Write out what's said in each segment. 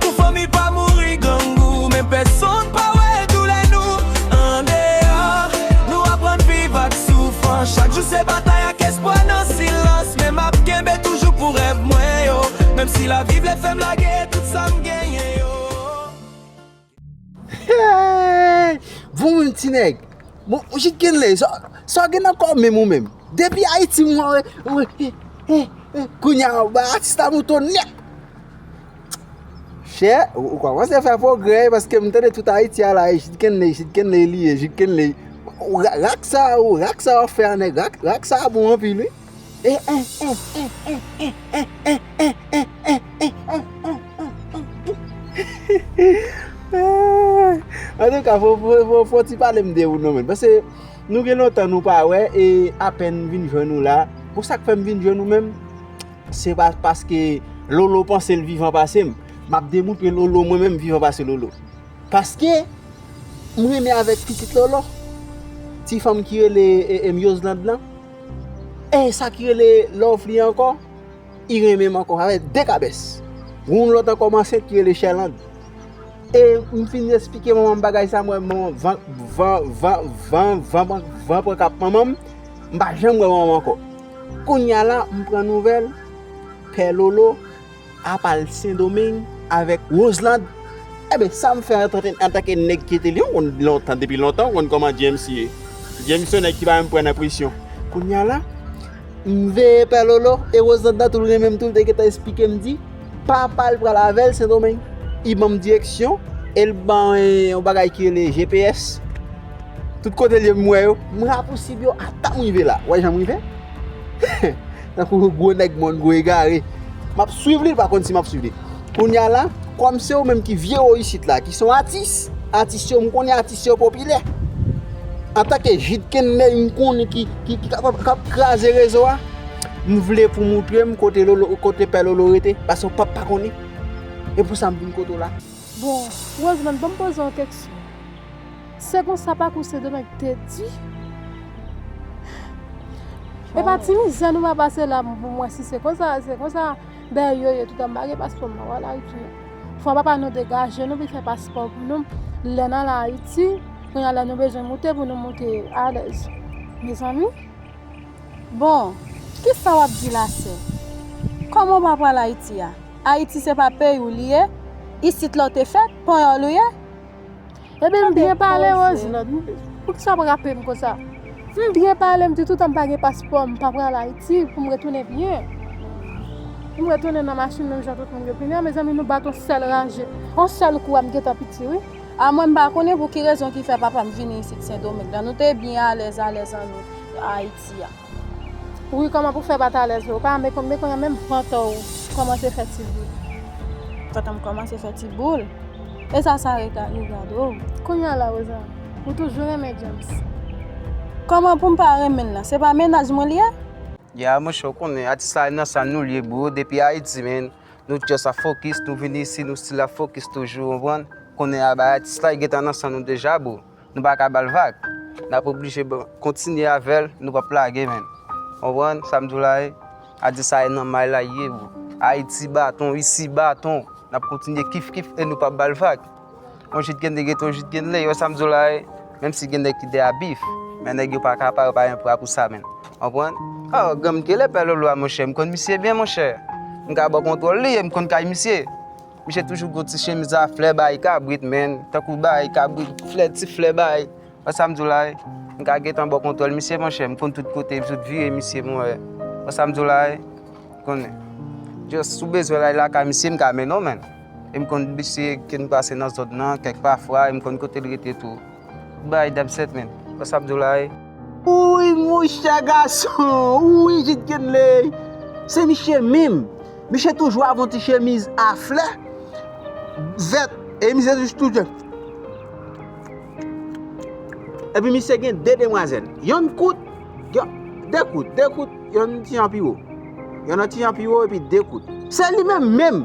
Pou fanmi pa mouri grangou men pèsonn pa wè doulè nou andeyò nou aprann viv ak soufrans chak jou se batay ak espwa nan silans men map kenbe toujou pou rèv mwen yo menm si lavi vle fèm lage tout sam genyen yo Heyy bon menm ti nèg bon jit kenley sa w gen nan kòw menm ou menm depi ayiti mwen wè wè he he he kounya ou bay atis la mouton nèt. Chè, ou kòmanse fè pwogrè paske m tande tout Ayiti a la e Jid Kenley, Jid Kenley li ye, Jid Kenley. Rak sa a ou, rak sa a ou fè a nèg, rak sa a bon anpil wi. Antouka fò ti pale m de ou non men paske nou gen lontan nou pa wè e apèn m vin jwenn ou la. Bon sa k fè m vin jwenn ou menm? Se pa paske lolo panse l vivan pase m m ap demoutre lolo mwen menm vivan pase lolo paske m renmen avèk pitit lolo ti fanm ki rele myoslande lan e sa ki rele lovely ankò li renmen m ankò sa fè 2 kabès gen yon lòt ankò m ansent ki rele sherlande e m fin esplike manman m bagay sa m wè manman m van van van van van pran kap manman m m pa janm wè manman m ankò Kounya la m pran nouvèl pè lolo ap al sendomeng avèk Roselande enben sam fè antanke nèg ki te lion konn lontan depi lontan ou konn kòman James ye James son nèg ki pa menm pran nan presyon kounya la m veye pè lolo e Roselande nan tou l renmenm tou l te gentan esplikem di papal pral avèl sendomeng li banm direksyon el ban yon bagay ki rele GPS Tout kote l ye m wè yo. M rapousib yo ata m rive la. Wè jan m rive? Tankou yon gwo nèg mòn, gwo egare. M ap swiv li, li pa konn si m ap swiv li. Kounye a la, kòm se ou menm ki vye wo isit la, ki se yon atis, atis yo, m konnen atis yo popilè. Antanke Jid Kenley m konnen ki k ap kraze rezo a, m vle pou w montre m kote Pè Lolo rete, paske w pap pa konnen. E pou sa m vin kote w la. Bon, Roseland, banm poze yon keksyon. Se konsa pakou Sedomeng te di? E pa ti mizè nou pa pase la pou m wè si se konsa, se konsa bèy yo ye toutan m pa gen paspò m nan wè al Ayiti. Fwa papa nou degaje nou vin fè paspò pou nou lè n al Ayiti, kounye a lè nou bezwen moute pou nou moute alèz. Mezanmi! Bon, kisa w ap di la sè? Kòman w pa pral Ayiti a? Ayiti se pa peyi w li ye? Isit la w te fèt? Panyòl ou ye? Epi m byen pale Roselande m di poukisa w ap rape m konsa? M byen pale m di toutan m pa gen paspò m pa pral Ayiti pou m retounen byen. M retounen nan machin menm jan tout moun yo vini an mezanmi nou bat on sèl raje. On sèl kou a m gentan piti wi. A mwen m pa konnen pou ki rezon ki fè papa m vini isit Sendomeng la. Nou te byen alèz alèz an nou Ayiti a. Wi kòman pou fè pat alèz la ou pa men kounya menm vantò ou kòmanse fè ti boul. Vantanm kòmanse fè ti boul e sa sa regade. Kounya la Rosa ou toujou renmen James. Kòman poum pa renmenl nan se pa mennaj mwen li ye. Ya monchè ou konnen atis la nan san nou liye bro depi ayiti men nou just ap fokis nou vini isi nou stil ap fokis toujou ou konprann konnen a bay atis la gentan nan san nou deja bro. Nou pa ka ba l vag. N ap oblije kontinye avè l, nou pap lage men. Konprann sa m di w la ye? Adisa ye nan may la ye bro. Ayiti baton, isi baton. N ap kontinye kif kif e nou pap ba l vag. On jit gen de gete, on jit gen de le. Yo wè sa m di w la ye? Menm si gen nèg ki de abif, men nèg yo pa ka pa, yo pa gen pra pou sa menm. Konprann? A, granm Gele, Pè Lolo a monchè, m konn misye byen monchè. M ka ba w kontwòl li e m konn kay misye. Misye toujou gon ti chemiz a flè bay kabrit menn, tankou bay kabrit flè ti flè bay, wè sa m di w la e? M ka gentan ba w kontwòl misye monchè, m konn tout kote epi tout vire misye m wè, wè sa m di w la e? M konnen. Just si w bezwen ray lakay misye m ka mennen w menn e m konn misye ke n pase nan zòn nan kèk pafwa e m konn kote l rete tou. Bby dab set men wè sa ap diw la wi. Wouyy mouche gason wouyy jid kenley se miche minm miche toujou avon ti chemiz a flè vèt e miche toujou tou jan epi miche gen 2 demwazel yonn kout yon 2 kout 2 kout yonn ti jan pi wo yonn ti jan pi wo epi 2 kout se li menm menm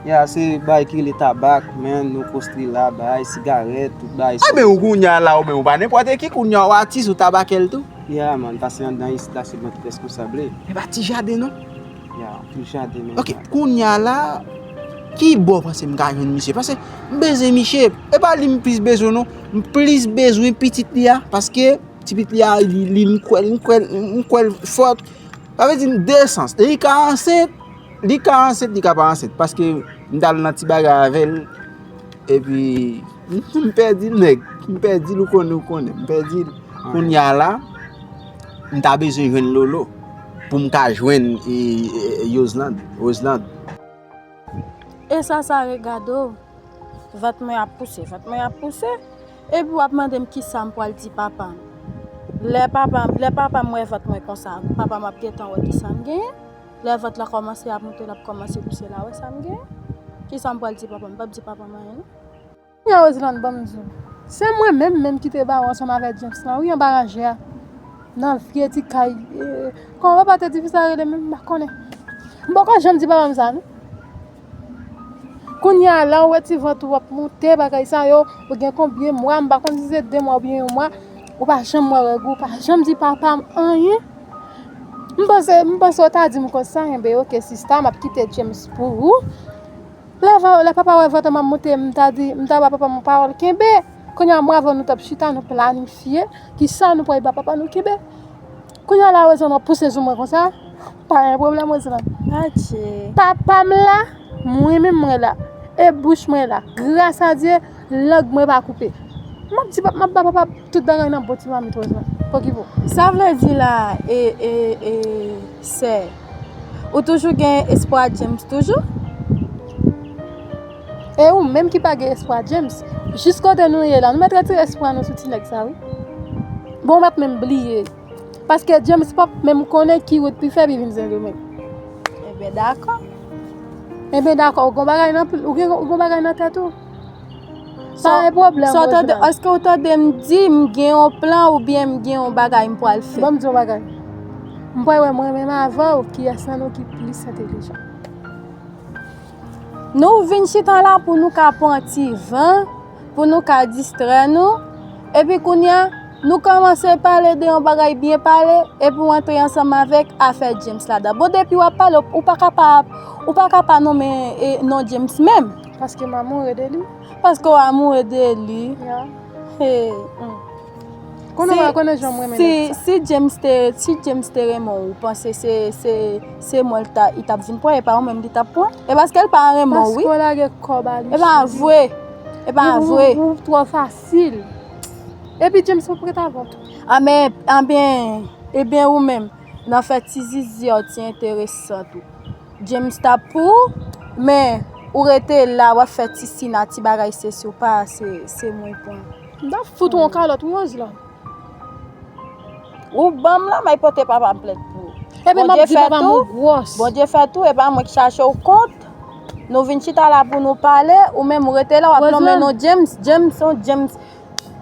Ya se bagay ki rele tabak men nou kostri la bagay sigarèt tout bagay sa. Anben ou kounya la ou menm ou pa nenpòte ki kounya ou atis ou tabakèl tou. Ya man pase andan isit la se mwen ki reskonsable. Epa ti jaden non. Ya ti jaden men. Ok kounya la ki bò ou panse m ka jwenn misye pase m bezwen misye epa li m plis bezwen non m plis bezwen pitit li a paske ti pitit li a li m kwèl m kwèl m kwèl fòt sa vle di m 2 sans li ka ansent. Li ka ansent li ka pa ansent paske m tal nan ti bagay avèl epi m pèdi l nèg m pèdi l ou konnen ou konnen m pèdi l kounya la m ta bezwen jwenn lolo pou m ka jwenn yozlande rozlande. E sa sa re gade w vant mwen ap pouse vant mwen ap pouse epi w ap mande m kisa m pral di papa m lè papa m lè papa m wè vant mwen konsa papa m ap gentan wè kisa m genyen. Lè vant la kòmanse ap moute lap kòmanse pouse la wè sam gen kisa m pral di papa m pap di papa m anyen non. Kounya Roseland banm di w se mwen menm menm kite ba ou ansanm avè James lan wi anba ranje a nan vye ti kay kòman papa te di fi sa rele menm m pa konnen m poko janm di papa m sa non. Kounya a la ou wè ti vant ou ap moute bagay sa yo ou gen konbyen mwa m pa konn si se 2 mwa oubyen yon mwa ou pa janm wè règ ou pa janm di papa m anyen m panse m panse ou ta di m konsa enben ok sista m ap kite James pou ou lè papa wè vant m ap moute m ta di m ta ba papa m yon pawòl kenbe kounya mwen avè w nou t ap chita nou planifye kisa nou pral ba papa nou kenbe. Kounya la Roselande wap pouse sou mwen konsa pa gen problème Roselande adje papam la mwen menm mwen la e bouch mwen la gras a Dye lang mwen pa koupe map di map ba papa tout bagay nan bon ti mamit Roselande pokipo. Sa vle di la e e e sè ou toujou gen espwa James toujou? E ou menm ki pa gen espwa James jis kote nou ye la nou mèt retire espwa nou sou ti nèg sa wi bon map menm bliye paske James pap menm konnen ki wout li fè li vin sendomeng enben dakò enben dakò ou gon bagay nan plim ou gen ou gon bagay nan tèt ou pa gen pwoblèm sa ou tande èske ou tande m di m gen yon plan oubyen m gen yon bagay m pwal fè banm di yon bagay m pwal wè mwen menm avèw kiyès nan nou ki plis entelijan. Nou vin chita la pou nou ka pran ti van, pou nou ka distrè nou, epi kounye a, nou kòmanse pale de yon bagay byen pale, epi ou antre ansanm avèk afè James ladan. Bon, depi w ap pale, ou pa ka pa, ou pa ka pa nonmen non James menm. Paske m amoure de li. Paske w amoure de li. Ya. Hey, hum. Konnen mwen, konnen jan mwen mennen sa. Si James te, si James te renmen ou, ou panse se, se, se mwen li ta, li tap vin pran, e pa ou menm li tap pran? E paske li pa renmen ou wi. Paske ou lage kò ba li cheri. E pa vre, e pa vre. Ou, ou, ou twò fasil. Epi James pap ret avè w tou. A men, a ben, e ben ou menm, nan fè ti zizi a w ti enteresan tou. James ta pou ou, men, ou rete la, wap fè ti sina, ti bagay se si ou pa, se, se mwen pran. M tap fout ou yon kalòt m wòz la. Ou banm la may pote papam plent pou ou. Ebyen map di papam ou gwòs. Bondye fè tou e pa mwen ki chache w kont. Nou vin chita la pou nou pale ou menm ou rete la wap lonmen non James, James on James.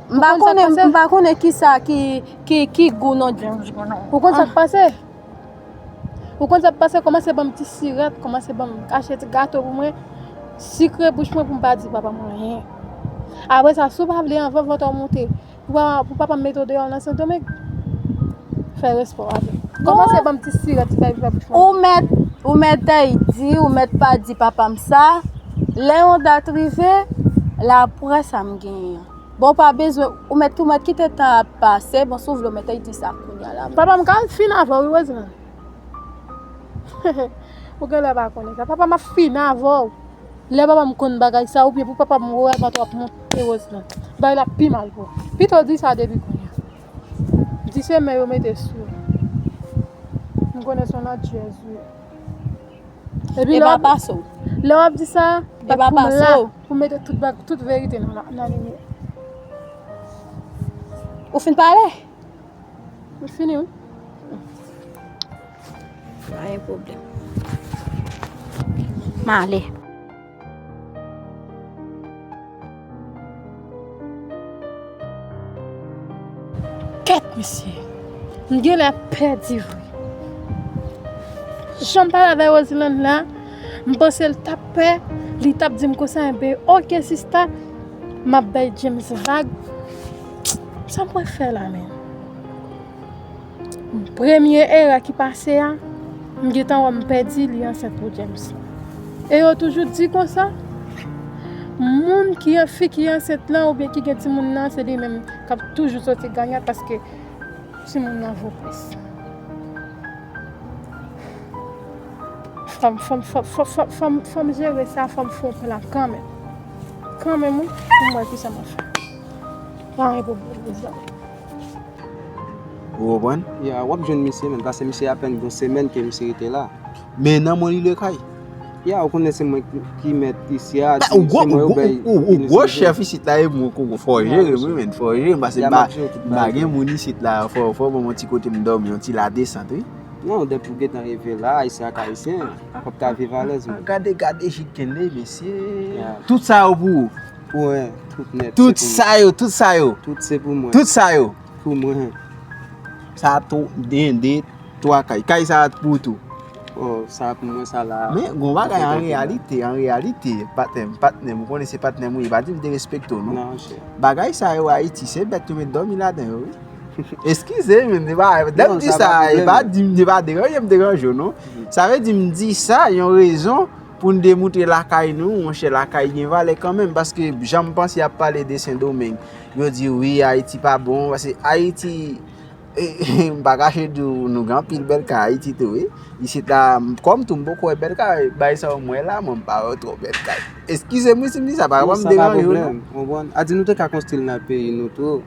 M pa konnen m pa konnen kisa ki gou non James. Ou konn sak pase? Ou konn sa m panse, kòmanse ban m ti sirèt, kòmanse ban m kache ti gato pou mwen, sikre bouch mwen pou m pa di papa m anyen. Apre sa, si w pa vle anvan vant ou monte, pou papa m mete w deyò nan Sendomeng, fè respè w avè m. Kòmanse ban m ti sirèt, ti fèy bouch mwen. Ou mètèy di, ou mèt pa di papa m sa, lè yon dat rive, la pwè sa m genyen an. Bon ou pa bezwen ou mèt tou mèt kite tan ap pase bon si ou vle ou mèt ey di sa kounya la. Papa m ka al fin avèw wi Roseman. Hehe ou genlè pa konnen sa papa map fin avèw lè papa m konn bagay sa oubyen pou papa m wè vant ou ap monte Roseman bagay la ap pi mal pou ou pitow di sa depi kounya di se men yo mete sou ou m konnen son landyèz ou ye. Epi lè wap di Lè wap di sa Bat pou m la Pou mete tout bag Tout verite nan nan limyè Ou fin pale? Mwen fini wi Pa gen pwoblèm Male Kèt mesye, m genlè pèdi vre. Jan m pale avèk Roseland la, m panse l t ap pè, li t ap di m konsa enben ok sista, m ap bay James vag. Sa m pral fè la menm? Premye erè ki pase a, m gentan wè m pèdi li ansent pou James. E yo toujou di konsa, moun ki an fi ki ansent lan oubyen ki gen timoun nan se li menm k ap toujou soti ganyan paske timoun nan vo plis. Fò m jere sa, fò m fon plan kanmenm. Kanmenm wi, pou m wè kisa m ap fè. Anyen pou m wè mezanmi. Ou konprann? Ya, w ap jwenn misye menm, pase misye apèn gen yon semèn ke misye rete la. Men nan mwen li lwe kay. Ya, ou konnen se mwen ki mèt isi a, se mwen yo bay. Ou gwo chèf isit la e mwen koko fò jere m wi menn, fò jere m pase m pa gen moun isit la, fò w ban mwen ti kote m dòmi, yon ti ladesant wi. Non, depi w gentan rive la, ayisyen ak ayisyen, w ap ka viv alèz menn. Gade, gade jidkenney mesye! Tout sa yo pou ou? Pou mwen, tout nèt se pou mwen. Tout sa yo, tout sa yo. Tout se pou mwen. Tout sa yo. Pou mwen. Sa a tou, den, de, twa kay. Kay sa a pou ou tou. Oh, sa a pou mwen, sa la. Men, goun wa kay an reyalite, an reyalite. Patnèm, patnèm, ou konnen se patnèm ou ye. Pa di m derespekte ou, non. Nan, chè. Bagay sa yo a iti, se bèt ou met dòmi la den yo, wi. Eskize m, m pa, lè m di sa a, m pa di, m pa deranje, m deranje ou, non. Sa vle di m di sa, yon rezon. Pou n demoutre lakay nou, monchè lakay gen valè kanmenm paske jan m panse y ap pale de Sendomeng yo di wi Ayiti pa bon paske Ayiti m pa kache di w nou gen anpil bèl kay Ayiti tou wi isit la kòm tou m poko wè bèl kay bay sa w m wè la mwen m pa wè twò bèl kay eskize m wi si m di sa pa m deranje w non. Sa pa pwoblèm, ou konprann? A di nou te ka konstri l nan peyi nou tou.